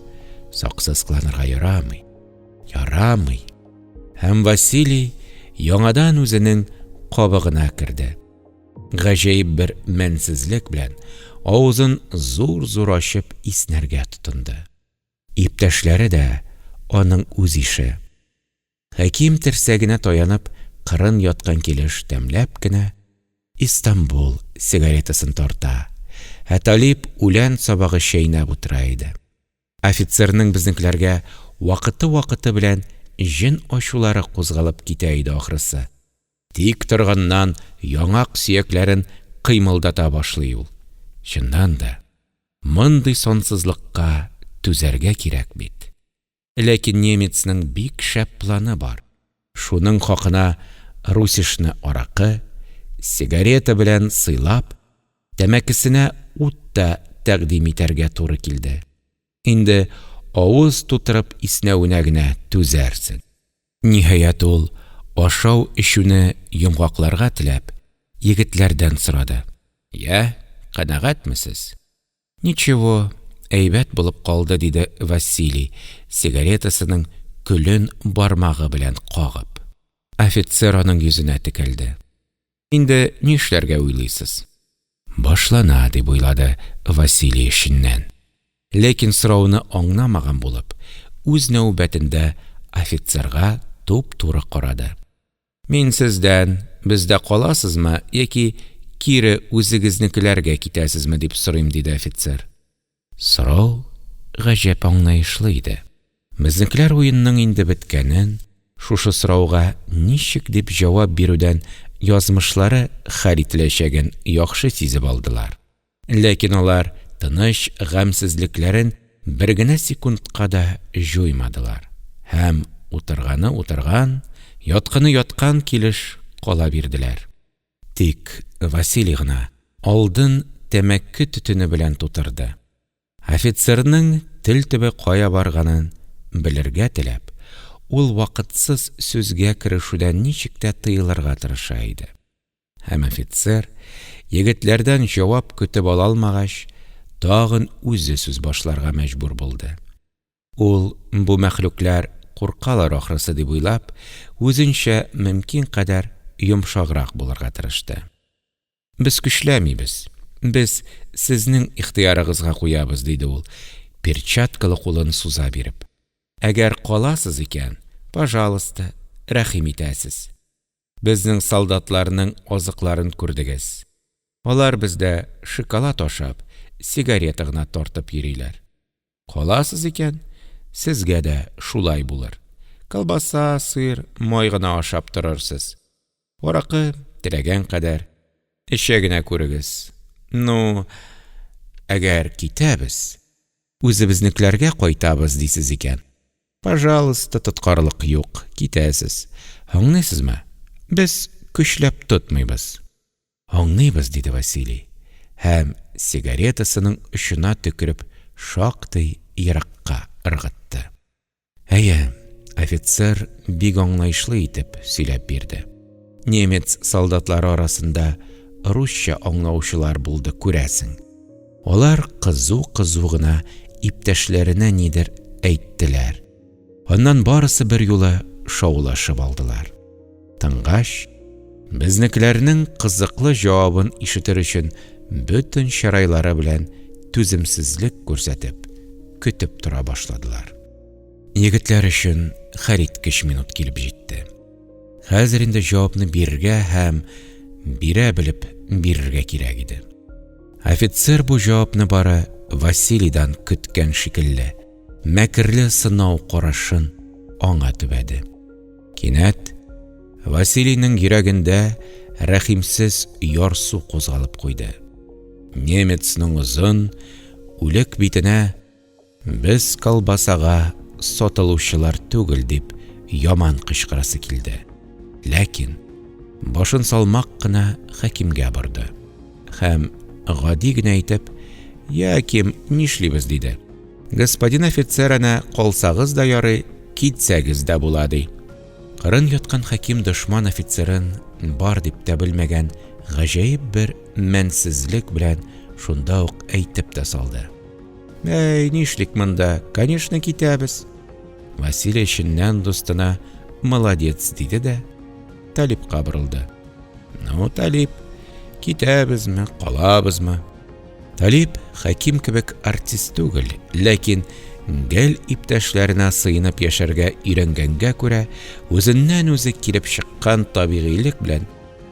[SPEAKER 1] саксызкланырга ярамый. Ярамый! Һәм Василий яңадан үзенең кабыгына керде. Гаҗәеп бер мәнсезлек белән авызын зур-зур ачып иснәргә тотынды. Иптәшләре дә аның үз ише. Хәким терсәгенә таянып кырын яткан килеш тәмләп кенә Истанбул сигаретасын тарта, ә Талип үлән сабагы чәйнәп утыра иде. Офицерның безнекеләргә вакыты-вакыты белән җен ачулары кузгалып китә иде, ахрысы, тик торганнан яңак сөякләрен кыймылдата башлый ул. Чыннан да, мондый сансызлыкка түзәргә кирәк бит. Ләкин немецның бик шәп планы бар. Шуның хакына Русишны аракы, сигарета белән сыйлап, тәмәкесенә ут та тәкъдим итәргә туры килде. Инде авыз тутырып иснәвенә генә түзәрсең. Ниһаять, ул, ашау-эчүне йомгакларга теләп, егетләрдән сорады. Йә, канәгатьмесез? Ничево, әйбәт булып калды, – диде Василий, сигаретасының көлен бармагы белән кагып. Офицер аның йөзенә текәлде. – Инде нишләргә уйлыйсыз? Башлана, дип уйлады Василий эченнән. Ләкин сорауны аңламаган булып, үз нәүбәтендә офицерга туп-туры карады. Мин сездән, бездә каласызмы яки кире үзегезнекеләргә китәсезме дип сорыйм, диде офицер. Сорау гаҗәп аңлаешлы иде. Безнекеләр уенның инде беткәнен, шушы сорауга ничек дип җавап бирүдән язмышлары хәл ителәчәген яхшы сизеп алдылар. Ләкин алар тыныч гамьсезлекләрен бер генә секундка да җуймадылар һәм утырганы утырган, ятканы яткан килеш кала бирделәр. Тик Василий гына алдын тәмәке төтене белән тутырды. Офицерның тел төбе кая барганын белергә теләп, ул вакытсыз сүзгә керешүдән ничек тә тыелырга тырыша иде. Һәм офицер, егетләрдән җавап көтеп ала алмагач, тагын үзе сүз башларга мәҗбүр булды. Ул, бу мәхлуклар куркалар ахрысы дип уйлап, үзенчә мөмкин кадәр йомшаграк булырга тырышты. Без көчләмибез, без сезнең ихтыярыгызга куябыз, диде ул, перчаткалы кулын суза биреп. Әгәр каласыз икән, пожалуйста, рәхим итәсез. Безнең солдатларның азыкларын күрдегез. Алар бездә шоколад ашап, сигарета гына тартып йөриләр. Каласыз икән, сезгә дә шулай булыр. Колбаса, сыр, май гына ашап торырсыз. Аракы, теләгән кадәр, эчә генә күрегез. Ну, әгәр китәбез, үзебезнекеләргә кайтабыз дисез икән. Пожалыста, тоткарлык юк, китәсез. Аңлыйсызмы? Без көчләп тотмыйбыз. Аңлыйбыз, диде Василий һәм, сигаретасының очына төкереп, шактый еракка ыргытты. Әйе, офицер бик аңлаешлы итеп сөйләп бирде. Немец солдатлары арасында русча аңлаучылар булды, күрәсең. Алар кызу-кызу гына иптәшләренә нидер әйттеләр. Аннан барысы берьюлы шаулашып алдылар. Тынгач, безнекеләрнең кызыклы җавабын ишетер өчен бөтен чырайлары белән түземсезлек күрсәтеп, көтеп тора башладылар. Егетләр өчен хәлиткеч минут килеп җитте. Хәзер инде җавапны бирергә һәм бирә белеп бирергә кирәк иде. Офицер бу җавапны бары Василийдан көткән шикелле, мәкерле сынау карашын аңа төбәде. Кинәт Василийның йөрәгендә рәхимсез ярсу кузгалып куйды. Немецның озын, үлек битенә Без колбасага сатылучылар түгел, дип яман кычкырасы килде, ләкин башын салмак кына Хәкимгә борды һәм гади генә итеп: – Йә, Ким, нишлибез? – диде. Господин офицер әнә калсагыз да ярый, китсәгез дә була, ди. Кырын яткан Хәким дошман офицерын бар дип тә белмәгән гаҗәеп бер мәнсезлек белән шунда ук әйтеп тә салды: Әй, нишлик монда, конечно, китәбез. Василий эченнән дустына молодец диде дә, Талипка борылды. Ну, Талип, китәбезме, калабызмы? Талип Хәким кебек артист түгел, ләкин гел иптәшләренә сыенып яшәргә өйрәнгәнгә күрә, үзеннән-үзе килеп чыккан табигыйлек белән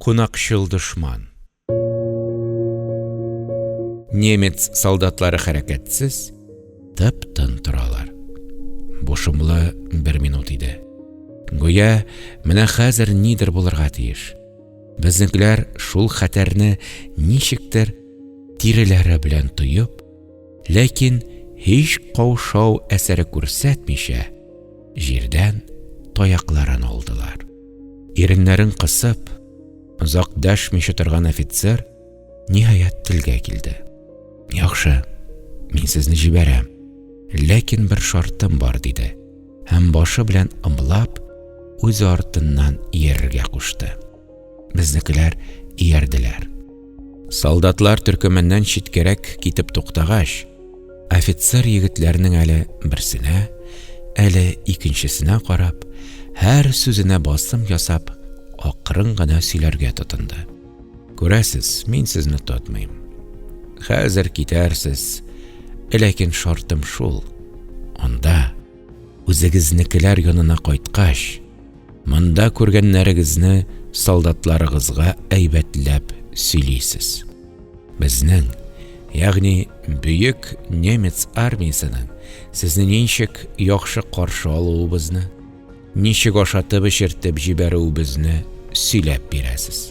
[SPEAKER 1] Кунакчыл дошман. Немец солдатлары хәрәкәтсез, тып-тын торалар. Бу шомлы бер минут иде. Гүя, менә хәзер нидер булырга тиеш. Безнекеләр шул хәтәрне ничектер тиреләре белән тоеп, ләкин һич каушау әсәре күрсәтмичә, җирдән таякларын алдылар. Иреннәрен кысып, озак дәшмичә торган офицер, ниһаять, телгә килде. Яхшы, мин сезне җибәрәм, ләкин бер шартым бар, диде. Һәм башы белән ымлап, үзе артыннан иярергә кушты. Безнекеләр иярделәр. Солдатлар төркеменнән читкәрәк китеп туктагач, офицер егетләрнең әле берсенә, әле икенчесенә карап, һәр сүзенә басым ясап, акрын гына сөйләргә тотынды. Күрәсез, мин сезне тотмыйм. Хәзер китәрсез, ләкин шартым шул, анда, Үзегезнекеләр янына кайткач, монда күргәннәрегезне солдатларыгызга әйбәтләп сөйлисез. Безнең, ягъни бөек немец армиясенең сезне ничек яхшы каршы алуыбызны, ничек ашатып-эчертеп җибәрүебезне сөйләп бирәсез.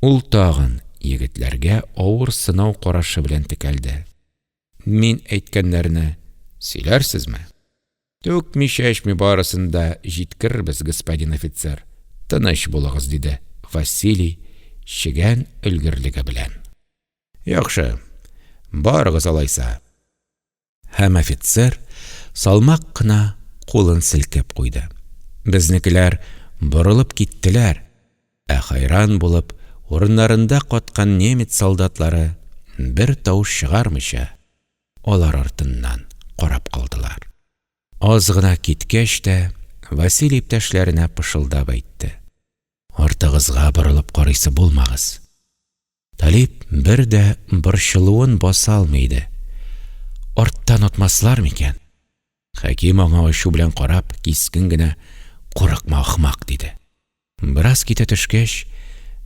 [SPEAKER 1] Ул тагын егетләргә авыр сынау карашы белән текәлде. Мин әйткәннәрне сөйләрсезме? Түкми-чәчми барысын да җиткерербез, господин офицер, тыныч булыгыз, диде Василий чегән өлгерлеге белән. Яхшы, барыгыз алайса. Һәм офицер салмак кына кулын селкеп куйды. Безнекеләр борылып киттеләр, ә хәйран булып урыннарында каткан немец солдатлары бер тавыш чыгармыйча, алар артыннан карап калдылар. Аз гына киткәч тә, Василий иптәшләренә пышылдап әйтте. Артыгызга борылып карыйсы булмагыз. Талип бер дә борчылуын баса алмый иде. Арттан отмаслар микән? Хәким аңа ачу белән карап, кискен генә, Курыкма, ахмак! диде. Бераз китә төшкәч,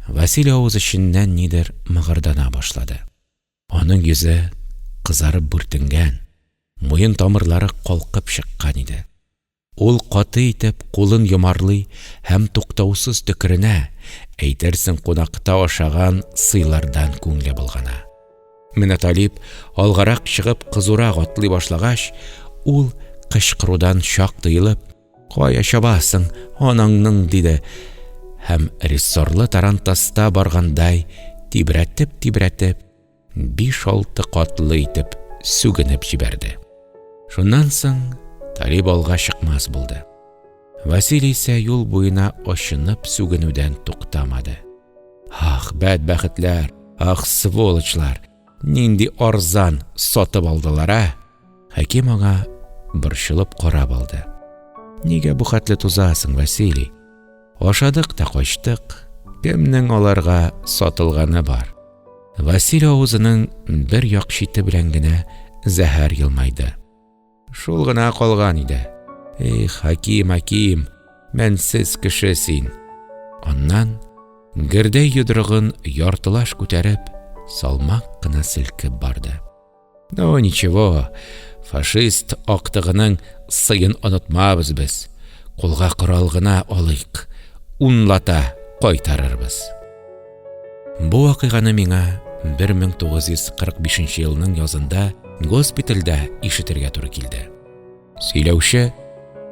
[SPEAKER 1] Василий авыз эченнән нидер мыгырдана башлады. Аның йөзе кызарып бүртенгән, муен тамырлары калкып чыккан иде. Ул каты итеп кулын йомарлый һәм туктаусыз төкеренә, әйтерсең кунакта ашаган сыйлардан күңле болгана. Менә Талип алгарак чыгып кызурак атлый башлагач, ул, кычкырудан чак тыелып, Кая чабасың, анаңның! диде һәм рессорлы тарантаста баргандай тибрәтеп-тибрәтеп, биш-алты катлы итеп сүгенеп җибәрде. Шуннан соң Талип алга чыкмас булды. Василий исә юл буена очынып сүгенүдән туктамады. Ах, бәдбәхетләр, ах, сволочлар, нинди арзан сатып алдылар, ә? Хәким аңа борчылып карап алды. Нигә бу хәтле тузасың, Василий? Ашадык та качтык, кемнең аларга сатылганы бар? Василий авызының бер як чите белән генә зәһәр елмайды. Шул гына калган иде. Эх, Хаким, Хаким, мәнсез кеше син. Аннан гердәй йодрыгын яртылаш күтәреп, салмак кына селкеп барды. Ну, ничего, фашист актыгының сыен онытмабыз без. Кулга корал гына алыйк, унлата кайтарырбыз. Бу вакыйганы миңа 1945 елның язында госпитальдә ишетергә туры килде. Сөйләүче,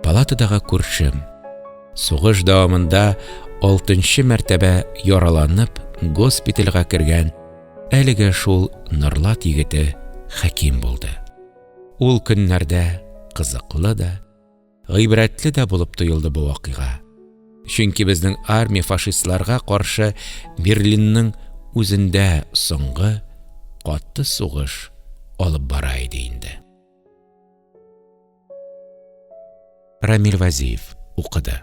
[SPEAKER 1] палатадагы күршем. Сугыш дәвамында алтынчы мәртәбә яраланып, госпитальгә кергән әлеге шул Норлат егете Хәким булды. Ул көннәрдә кызыклы да, гыйбрәтле дә булып тоелды бу вакыйга. Чөнки безнең армия фашистларга каршы Берлинның үзендә соңгы каты сугыш алып бара иде инде. Рамиль Вазиев укыды.